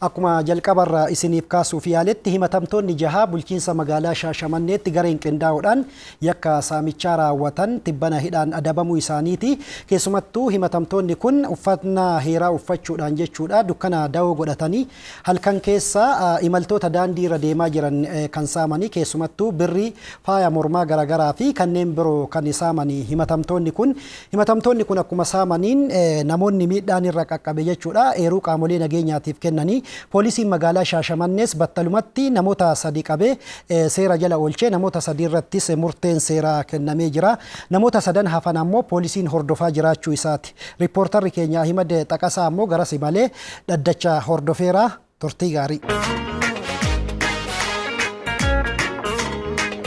Akkuma jalqabarra isiniif kaasuuf yaaletti himatamtoonni jaha bulchiinsa magaalaa Shaashamanneetti gareen qindaa'uudhaan yakka saamichaa raawwatan tibbana hidhaan adabamuu isaaniiti. Keessumattuu himatamtoonni kun uffannaa heeraa uffachuudhaan jechuudha dukkana dawoo godhatanii Halkan keessa imaltoota daandii irra deemaa jiran kan saamanii keessumattuu birrii, faaya mormaa garaagaraa fi kanneen biroo kan saaman himatamtoonni kun, himatamtoonni kun akkuma saamaniin namoonni miidhaan irra qaqqabe jechuudha eeruu qaamolee nageenyaatiif kennanii poolisiin magaalaa Shaashamannees battalumatti namoota sadi qabee seera jala oolchee namoota sadii irrattis murteen seeraa kennamee jira. Namoota sadan hafan ammoo poolisiin hordofaa jiraachuu isaati. Riippoortarri keenya Ahimad Xaqasaa ammoo garas imalee dhaddacha hordofeera turtii gaarii.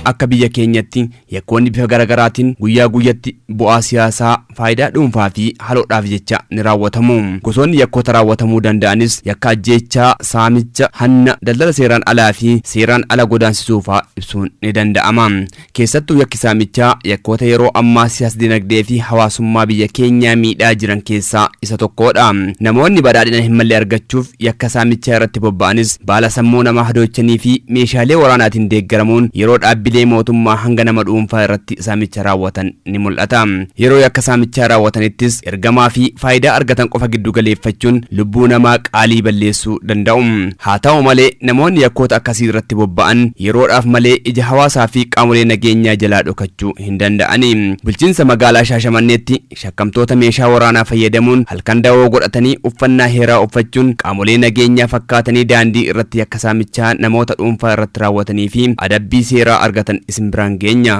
Akka biyya keenyatti yakkoonni bifa garaagaraatiin guyyaa guyyatti bu'aa siyaasaa, faayidaa dhuunfaa fi haloodhaaf jecha ni raawwatamu. Gosoonni yakkoota raawwatamuu danda'anis yakka ajjeechaa, saamicha, hanna, daldala seeraan alaa fi seeraan ala godaansisuu fa'aa ibsuun ni danda'ama. Keessattuu yakki saamichaa yakkoota yeroo ammaa siyaas-dinagdee fi hawaasummaa biyya keenyaa miidhaa jiran keessaa isa tokkoodha. Namoonni badhaadhina hin malle argachuuf yakka saamichaa irratti bobba'anis baala sammuu namaa hadoochanii fi meeshaalee waraanaatiin deeggaramuun yeroo dhaabbilee mootummaa hanga nama dhuunfaa irratti saamicha raawwatan ni mul'ata. Yeroo yakka saamichaa raawwatanittis ergamaa fi faayidaa argatan qofa giddu galeeffachuun lubbuu namaa qaalii balleessuu danda'u. Haa ta'u malee, namoonni yakkoota akkasii irratti bobba'an yeroodhaaf malee ija hawaasaa fi qaamolee nageenyaa jalaa dhokachuu hin danda'ani. Bulchiinsa magaalaa Shaashamanneetti shakkamtoota meeshaa waraanaa fayyadamuun halkan dawoo godhatanii uffannaa heeraa uffachuun qaamolee nageenyaa fakkaatanii daandii irratti yakka saamichaa namoota dhuunfaa irratti raawwatanii fi adabbii seeraa argatan isin biraan geenya.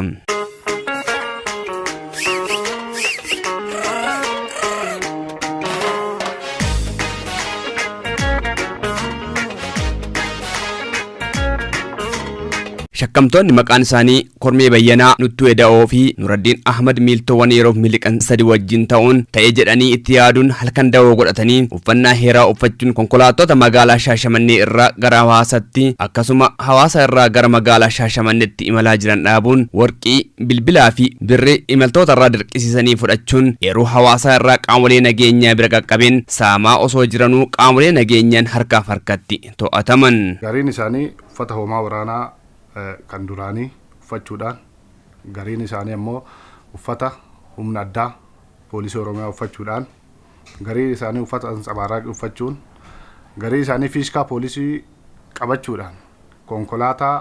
Shakkamtoonni maqaan isaanii Kormee Bayyanaa, Nuttuu Eda'oo fi Nuraddiin Ahmad miiltoowwan yeroof miliqan sadi wajjin ta'uun ta'e jedhanii itti yaaduun halkan dawoo godhatanii uffannaa heeraa uffachuun konkolaattota magaalaa Shaashamannee irraa gara Hawaasaatti akkasuma Hawaasa irraa gara magaalaa Shaashamannetti imalaa jiran dhaabuun Warqii, Bilbilaa fi Birrii imaltoota irraa dirqisiisanii fudhachuun eeruu hawaasaa irraa qaamolee nageenyaa bira qaqqabeen saamaa osoo jiranuu qaamolee nageenyaan harkaaf harkatti to'ataman. Gariin isaanii uffata hoomaa waraanaa kan duraanii uffachuudhaan gariin isaanii ammoo uffata humna addaa poolisii Oromiyaa uffachuudhaan garii isaanii uffata antsabaaraaqii uffachuun garii isaanii fiishkaa poolisii qabachuudhaan konkolaataa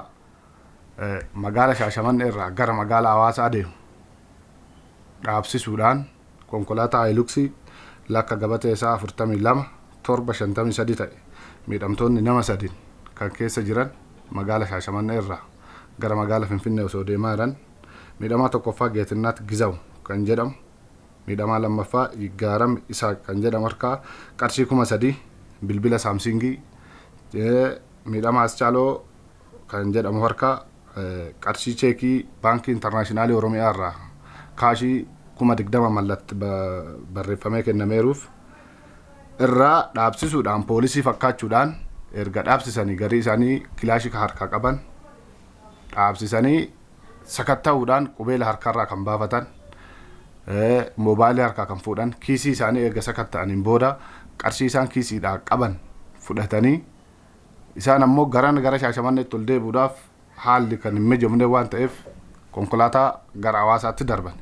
magaala Shaashamannee irraa gara magaala Hawaasa adeemu dhaabsisuudhaan konkolaataa Hayiluksii lakka gabatee isaa 42 7 53 ta'e miidhamtoonni nama sadin kan keessa jiran magaala Shaashamannee irraa gara magaala Finfinnee osoo deemaa jiran miidhamaa 1ffaa Geetinnaat Gizaw kan jedhamu Miidhamaa lammaffaa Yiggaaram Isaaq kan jedhamu harkaa qarshii kuma sadii bilbila saamsingii Miidhamaa Aschaaloo kan jedhamu harkaa qarshii cheekii baankii intarnaashinaalii Oromiyaa irraa kaashii kuma digdama mallatt barreeffamee kennameeruuf irraa dhaabsisuudhaan poolisii fakkaachuudhaan erga dhaabsisanii garii isaanii kilaashika harkaa qaban dhaabsisanii sakatta'uudhaan qubeela harkaarraa kan baafatan, mobaayilii harkaa kan fuudhan, kiisii isaanii erga sakatta'aniin booda qarshii isaan kiisiidhaa qaban fudhatanii isaan ammoo garana gara Shaashamanneetti ol deebi'uudhaaf haalli kan hin mijomne waan ta'eef konkolaataa gara Hawaasaatti darban.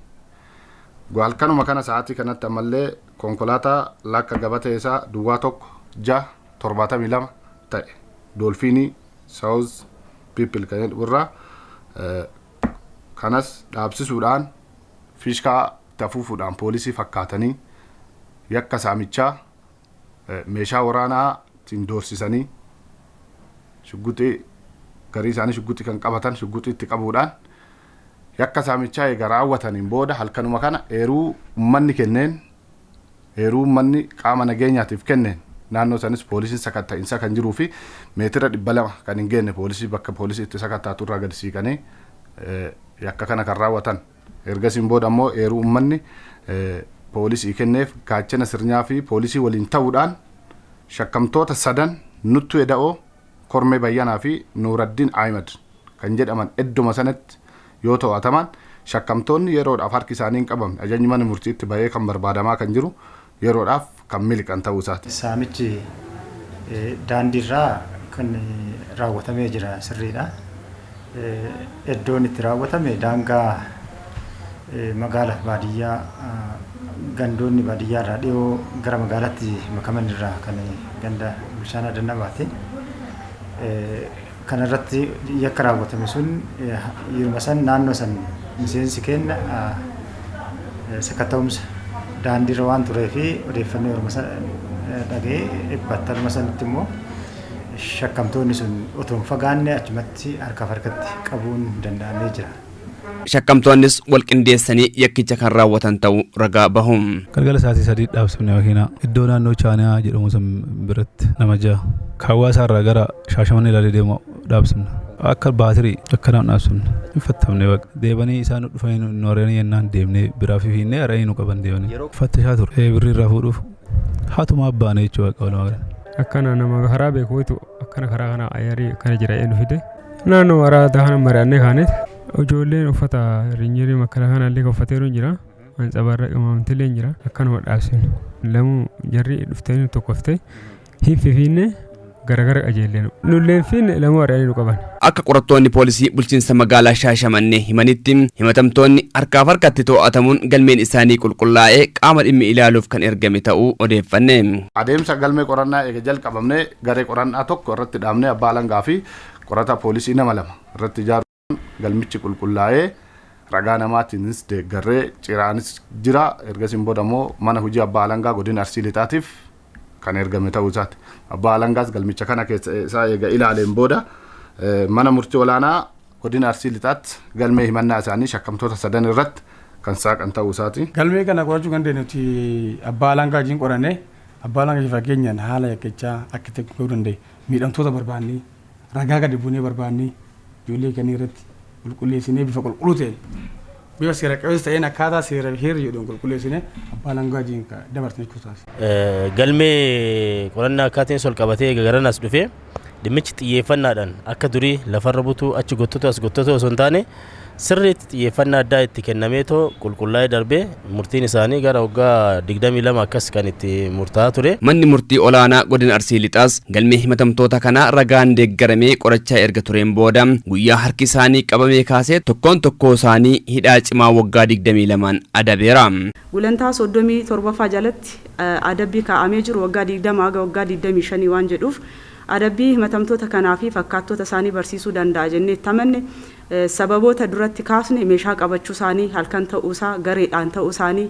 Halkanuma kana sa'aatii kanatti ammallee konkolaataa lakka gabatee isaa duwwaa 1, 6, 72 ta'e Doolfiinii south people kan jedhu irraa eh, kanas dhaabsisuudhaan fiishkaa itti afuufuudhaan poolisii fakkaatanii yakka saamichaa eh, meeshaa waraanaa ittiin doorsisanii shugguxii garii isaanii shugguxii kan qabatan shugguxii itti qabuudhaan yakka saamichaa eega raawwataniin booda halkanuma kana eeruu ummanni kenneen Eeruu uummanni qaama nageenyaatiif kenneen naannoo sanis poolisiin sakatta'insaa kan jiruu fi meetira 200 kan hin geenne poolisii bakka poolisiin itti sakatta'atu irraa gadi siiqanii yakka kana kan raawwatan. Ergasiin booda ammoo eeruu uummanni poolisii kenneef gaachena sirnyaa fi poolisii waliin ta'uudhaan shakkamtoota sadan Nuttuye Da'oo, Kormee Bayyanaa fi Nuuraddin Ahimad kan jedhaman eddoma sanatti yoo to'ataman shakkamtoonni yeroodhaaf harki isaanii hin qabamne ajajni mana murtiitti bahee kan barbaadamaa kan jiru yeroodhaaf kan miliqan ta'uu isaati. Saamichi daandii irraa kan raawwatamee jira sirriidha. Eddoon itti raawwatame daangaa magaalaaf baadiyyaa gandoonni baadiyyaa irraa dhiyoo gara magaalaatti makaman irraa kan ganda Bishaanaa Dannabaati. Kana irratti yakka raawwatame sun yeruma san naannoo san miseensi keenna sakatta'umsa daandii irra waan turee fi odeeffannoo yeruma san dhaga'ee battaluma sanitti immoo shakkamtoonni sun otoo hin fagaanne achumatti harkaaf harkatti qabuun danda'amee jira. Shakkamtoonnis wal qindeessanii yakkicha kan raawwatan ta'uu ragaa bahu. Galgala sa'aatii 3tti dhaabsifne makiinaa iddoo naannoo Chaaniyaa jedhamu san biratti nama 6 ka Hawaasaa irraa gara Shaashamannee ilaalee deemu dhaabsifne. Akka baatirii akkanaan dhaabsifne. Hin fattamne baqa. Deebanii isaan nu dhufanii nu ari'anii jennaan deemnee biraa fifiinnee ari'anii nu qaban deemanii. Fattashaa ture. Birrii irraa fuudhuuf hatumaa baane jechuu baqa walumaa gala. Akkana nama karaa beeku wayitu. akkana karaa kana ayyarii akkana jira ee nu fide naannoo waaraa adda kana mari'annee kaaneet ijoolleen uffata riinyeerii makkalaa kana illee koffateeru hin jira ansabaarra qamaamtillee hin jira akkanuma dhaabsinu lamuu jarri dhuftanii tokkoftee hin fifiinne garagara qajeellee nullee hin fiinne lamuu ari'anii nu qaban. Akka qorattoonni poolisii bulchiinsa magaalaa Shaashamannee himanitti himatamtoonni harkaaf harkatti to'atamuun galmeen isaanii qulqullaa'ee qaama dhimmi ilaaluuf kan ergame ta'uu odeeffanne. Adeemsa galmee qorannaa eega jalqabamne Garee qorannaa tokko irratti dhaabnee abbaa alangaa fi qorataa poolisii nama lama irratti ijaaruudhaan galmichi qulqullaa'ee ragaa namaatiinis deeggarree ciraanis jira. Ergasiin booda immoo mana hojii abbaa alangaa godina Arsii Lixaatiif kan ergame ta'uu isaati. Abbaa alangaas galmicha kana keessa isaa eega ilaaleen booda mana murtii olaanaa godina Arsii Lixaatti galmee himannaa isaanii shakkamtoota sadan irratti kan saaqan ta'uu isaati. Galmee kana qorachuu kan dandeenye nuti abbaa alangaa wajjin qorannee Abbaa Alangafi fageenyaan haala yakkichaa akka itti ta'uu danda'e miidhamtoota barbaannee, ragaa gadi buunee barbaannee ijoollee keenna irratti qulqulleessinee bifa qulqulluu ta'een, bifa seera qabeessa ta'een akkaataa seerafi heerri jedhuun qulqulleessinee Abbaa Alangaa wajjin kan dabarsine jechuu isaati. Galmee qorannaa akkaatiin isa ol qabatee eega garanas dhufee. dhimmichi xiyyeeffannaadhaan akka durii lafarra butuu achi gottatu as gottatu osoo hin taane sirriitti xiyyeeffannaa addaa itti kennameetoo qulqullaa'ee darbee murtiin isaanii gara waggaa 22 akkas kan itti murtaa'aa ture. Manni Murtii Olaanaa Godina Arsii Lixaas galmee himatamtoota kanaa ragaan deeggaramee qorachaa erga tureen booda guyyaa harki isaanii qabamee kaasee tokkoon tokkoo isaanii hidhaa cimaa waggaa 22n adabeera. Gulantaa 37ffaa jalatti adabbii kaa'amee jiru waggaa 20 haga waggaa 25 waan jedhuuf adabbii himatamtoota kanaa fi fakkaattota isaanii barsiisuu danda'a jennee itti amanne sababoota duratti kaafne meeshaa qabachuu isaanii, halkan ta'uu isaa, gareedhaan ta'uu isaanii,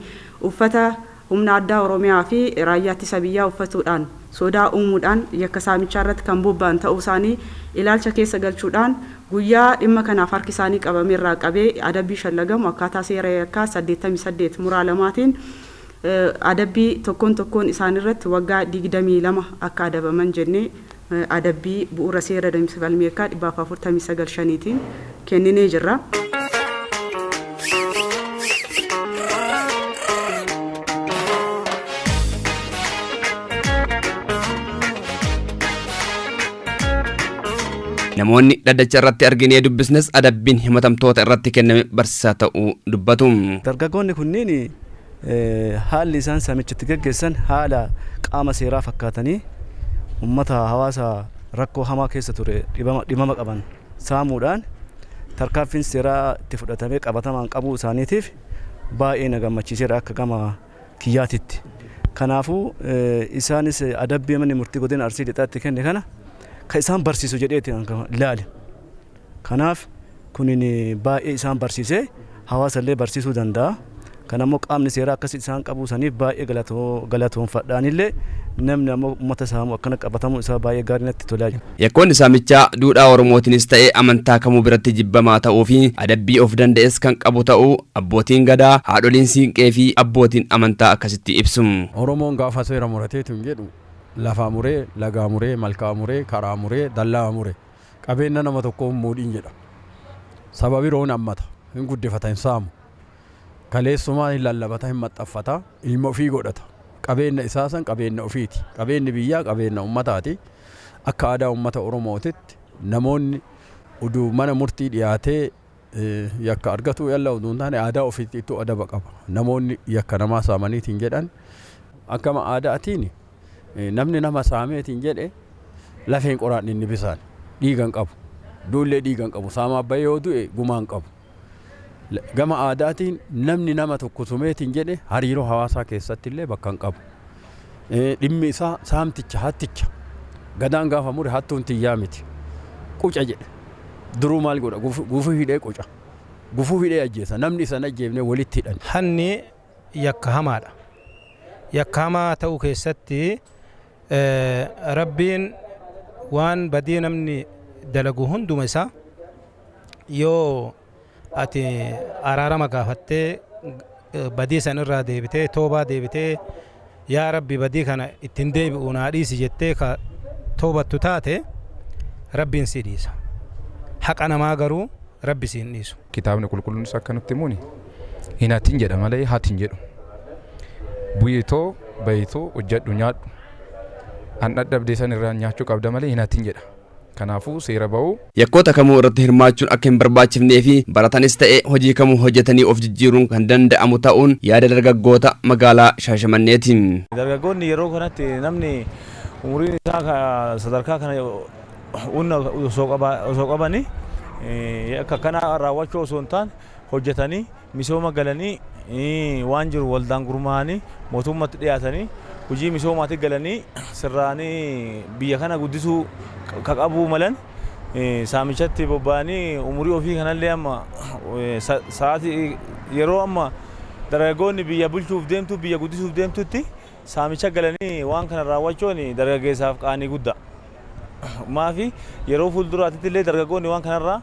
uffata Humna Addaa Oromiyaa fi Raayyaa Ittisa Biyyaa uffatuudhaan sodaa uumuudhaan yakka saamichaa irratti kan bobba'an ta'uu isaanii ilaalcha keessa galchuudhaan Guyyaa dhimma kanaaf harki isaanii qabame irraa qabee adabbii shallagamu akkaataa seera yakkaa 88 muraa 2 tiin adabbii tokkoon tokkoon isaanii irratti waggaa 22 akka adabaman jennee adabbii bu'uura seera adeemsa falmii yakkaa 249 5 tiin kenninee jirra. Namoonni dhaddacha irratti arginee dubbisnes adabbiin himatamtoota irratti kenname barsiisaa ta'uu dubbatu. Dargaggoonni kunniin eh, haalli isaan saamicha itti gaggeessan haala qaama seeraa fakkaatanii uummata hawaasa rakkoo hamaa keessa ture dhibama, dhimama qaban saamuudhaan tarkaanfiin seeraa itti fudhatamee qabatamaan qabuu isaaniitiif baay'ee na gammachiiseera akka gama kiyyaatitti. Kanaafuu isaanis adabbii manni murtii godina Arsii Lixaatti kenne kana kan isaan barsiisu jedheeti ilaale. Kanaaf kunin baay'ee isaan barsiisee hawaasa illee barsiisuu danda'a. Kana immoo qaamni seeraa akkasitti isaan qabuu saniif baay'ee galatoonfadha. Anillee namni ammoo uummata saamu akkana qabatamuun isaa baay'ee gaarii natti tolaa jira. Yakkoonni saamichaa duudhaa Oromootinis ta'e amantaa kamuu biratti jibbamaa ta'uu fi adabbii of danda'es kan qabu ta'uu abbootiin Gadaa, haadholiin Siinqee fi abbootiin amantaa akkasitti ibsu. Oromoon gaafa seera murateetiin jedhu lafaa muree, lagaa muree, malkaa muree, karaa muree, dallaa mure qabeenna nama tokkoo hin muudhin jedha. Saba biroo hin hammata, hin guddifata, hin saamu. Kaleessumaa hin lallabata, hin maxxanfata, ilma ofii godhata. Qabeenna isaa san qabeenna ofiiti. Qabeenni biyyaa qabeenna ummataati. Akka aadaa ummata Oromootitti namoonni uduu mana murtii dhiyaatee yakka argatuu yalla uduu hin taane aadaa ofiitiittuu adaba qaba. Namoonni yakka namaa saamaniitiin jedhan akkama aadaatiin namni nama saameetiin jedhe lafeen qoraadhni inni bisaan dhiiga hin qabu. Duullee dhiiga hin qabu. Saamaa bayee yoo du'e gumaa hin qabu. Gama aadaatiin namni nama tokko tumeetiin jedhe hariiroo hawaasaa keessatti illee bakka hin qabu. Dhimmi isaa saamticha, hatticha. Gadaan gaafa mure hattuun tiyyaa miti. Quca jedhe. Duruu maal godha? Gufuu hidhee quca. Gufuu hidhee ajjeesa. Namni isa hin ajjeefne walitti hidhan. Hanni yakka hamaadha. Yakka hamaa ta'uu keessatti. Rabbiin waan badii namni dalagu hunduma isaa yoo ati araarama gaafattee badii san irraa deebitee toobaa deebitee yaa rabbi badii kana ittiin deebi'u naa dhiisi jettee ka toobattu taate rabbiin si dhiisa haqa namaa garuu Rabbi si hin dhiisu. Kitaabni Qulqulluunis akka nutti himuun hin hatin jedha malee hati hin jedhu. Bu'ii too bahii too hojjadhu nyaadhu. An dhadhabde san irraa nyaachuu qabda malee hin hatin jedha. Kanaafuu seera bahuu. Yakkoota kamuu irratti hirmaachuun akka hin barbaachifnee fi baratanis ta'e hojii kamuu hojjatanii of jijjiiruun kan danda'amu ta'uun yaada dargaggoota magaalaa Shaashamanneeti. Dargaggoonni yeroo kanatti namni umuriin isaa sadarkaa kana. hunna osoo qabanii yakka akkanaa raawwachuu osoo hin taane hojjatanii misooma galanii waan jiru waldaan gurmaa'anii mootummatti dhiyaatanii hojii misoomaati galanii sirraanii biyya kana guddisuu ka qabuu malan saamichatti bobba'anii umurii ofii kanallee amma sa'aati yeroo amma dargaggoonni biyya bulchuuf deemtu biyya guddisuuf deemtutti saamicha galanii waan kana raawwachuun dargaggeessaaf qaanii guddaa. Maafi yeroo fuulduraatitillee dargaggoonni waan kanarraa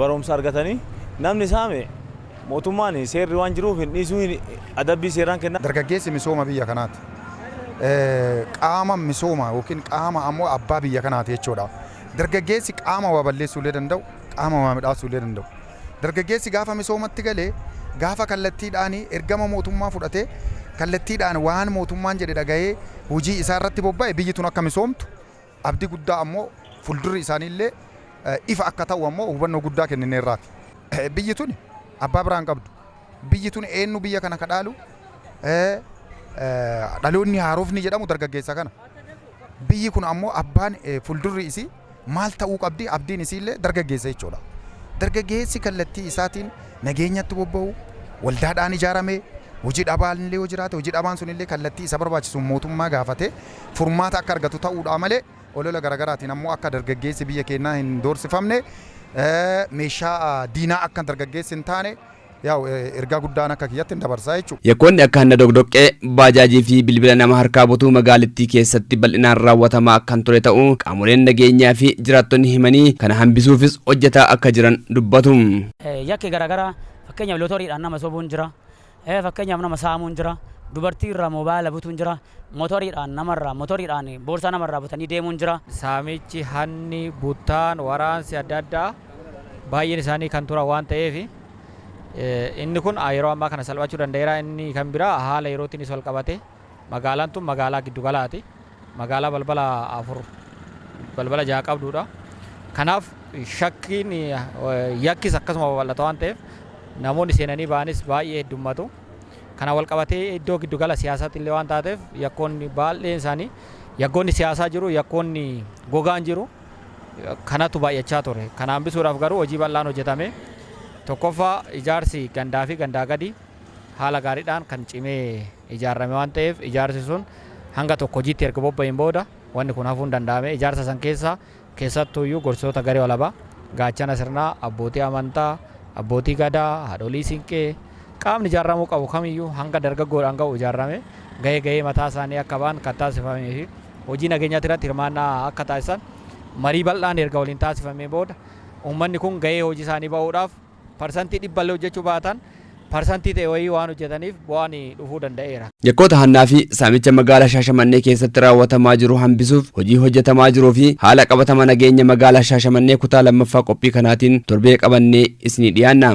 baroomsa argatanii namni saame mootummaan seerri waan jiruuf hin dhiisuu hin adabbii seeraan kenna. Dargaggeessi misooma biyya kanaati. Qaama misooma yookiin qaama ammoo abbaa biyya kanaati jechuudha. Dargaggeessi qaama waa balleessuullee danda'u, qaama waa midhaassuullee danda'u. Dargaggeessi gaafa misoomatti gale, gaafa kallattiidhaan ergama mootummaa fudhate, kallattiidhaan waan mootummaan jedhe dhagahee hojii isaa irratti bobba'e biyyi tun akka misoomtu abdii guddaa ammoo fuldurri isaanii illee ifa akka ta'u ammoo hubannoo guddaa kennineerraafi. Biyyi tuni abbaa biraa hin qabdu. Biyyi tuni eennu biyya kana ka dhaalu? Dhaloonni haarofni jedhamu dargaggeessa kana. Biyyi kun ammoo abbaan fuldurri isii. Maal ta'uu qabdi? Abdiin isiillee dargaggeessa jechuudha. Dargaggeessi kallattii isaatiin nageenyatti bobba'u, waldaadhaan ijaaramee, hojii dhabaallee yoo jiraate hojii dhabaan sunillee kallattii isa barbaachisuun mootummaa gaafatee furmaata akka argatu ta'uudhaa malee olola garagaraatiin ammoo akka dargaggeessi biyya keennaa hin doorsifamne, meeshaa diinaa akka dargaggeessi hin taane Yaw ergaa guddaan akka kiyyattin dabarsaa jechu. Yakkoonni akka hanna doqdoqqee, baajaajii fi bilbila nama harkaa butuu magaalittii keessatti bal'inaan raawwatamaa kan ture ta'uu qaamoleen nageenyaa fi jiraattonni himanii, kana hambisuufis hojjetaa akka jiran dubbatu. Yakki garaagaraa fakkeenyaaf lootoriidhaan nama sobuun jira, fakkeenyaaf nama saamuun jira, dubartii irraa moobaayila butuun jira. Motoriidhaan namarraa, motoriidhaan boorsaa namarraa butanii deemuun jira. Saamichi, hanni, buttaan, waraansi adda addaa baay'een isaanii kan turan waan ta'eef inni kun yeroo ammaa kana salphachuu danda'eera. Inni kan biraa haala yerootiinis wal qabatee magaalaan tun magaalaa giddu galaati. Magaalaa balbala afur, balbala ja'a qabduudha. Kanaaf shakkiin yakkis akkasuma babal'ata waan ta'eef namoonni seenanii ba'anis baay'ee heddummatu. Kana walqabatee iddoo giddu gala siyaasaatti illee waan taateef yakkoonni baay'een isaanii yakkoonni siyaasaa jiru, yakkoonni gogaan jiru kanatu baay'achaa ture. Kana hambisuudhaaf garuu hojii bal'aan hojjetamee tokkoffaa ijaarsi gandaa fi gandaa gadii haala gaariidhaan kan cimee ijaarame waan ta'eef ijaarsi sun hanga tokko hojiitti erga bobba'een booda wanni kun hafuun danda'ame ijaarsa san keessaa Keessattuuyyuu gorsitoota garee walabaa, gaachana sirnaa, abbootii amantaa, abbootii Gadaa, haadholii Siinqee, qaamni ijaarramuu qabu kamiyyuu hanga dargaggoodhaan ga'u ijaarramee gahee gahee mataa isaanii akka ba'an kan taasifamee fi hojii nageenyaatti irratti hirmaannaa akka taasisan marii bal'aan erga waliin taasifamee booda uummanni kun gahee hojii isaanii ba'uudhaaf Parsantii dhibballee hojjechuu baataan parsantii ta'e wayii waan hojjetaniif bu'aan dhufuu danda'eera. Yakkoota hannaa fi saamicha magaalaa Shaashamannee keessatti raawwatamaa jiru hambisuuf hojii hojjetamaa jiruu fi haala qabatama nageenya magaalaa Shaashamannee kutaa 2ffaa qophii kanaatiin torbee qabannee isinii dhiyaanna.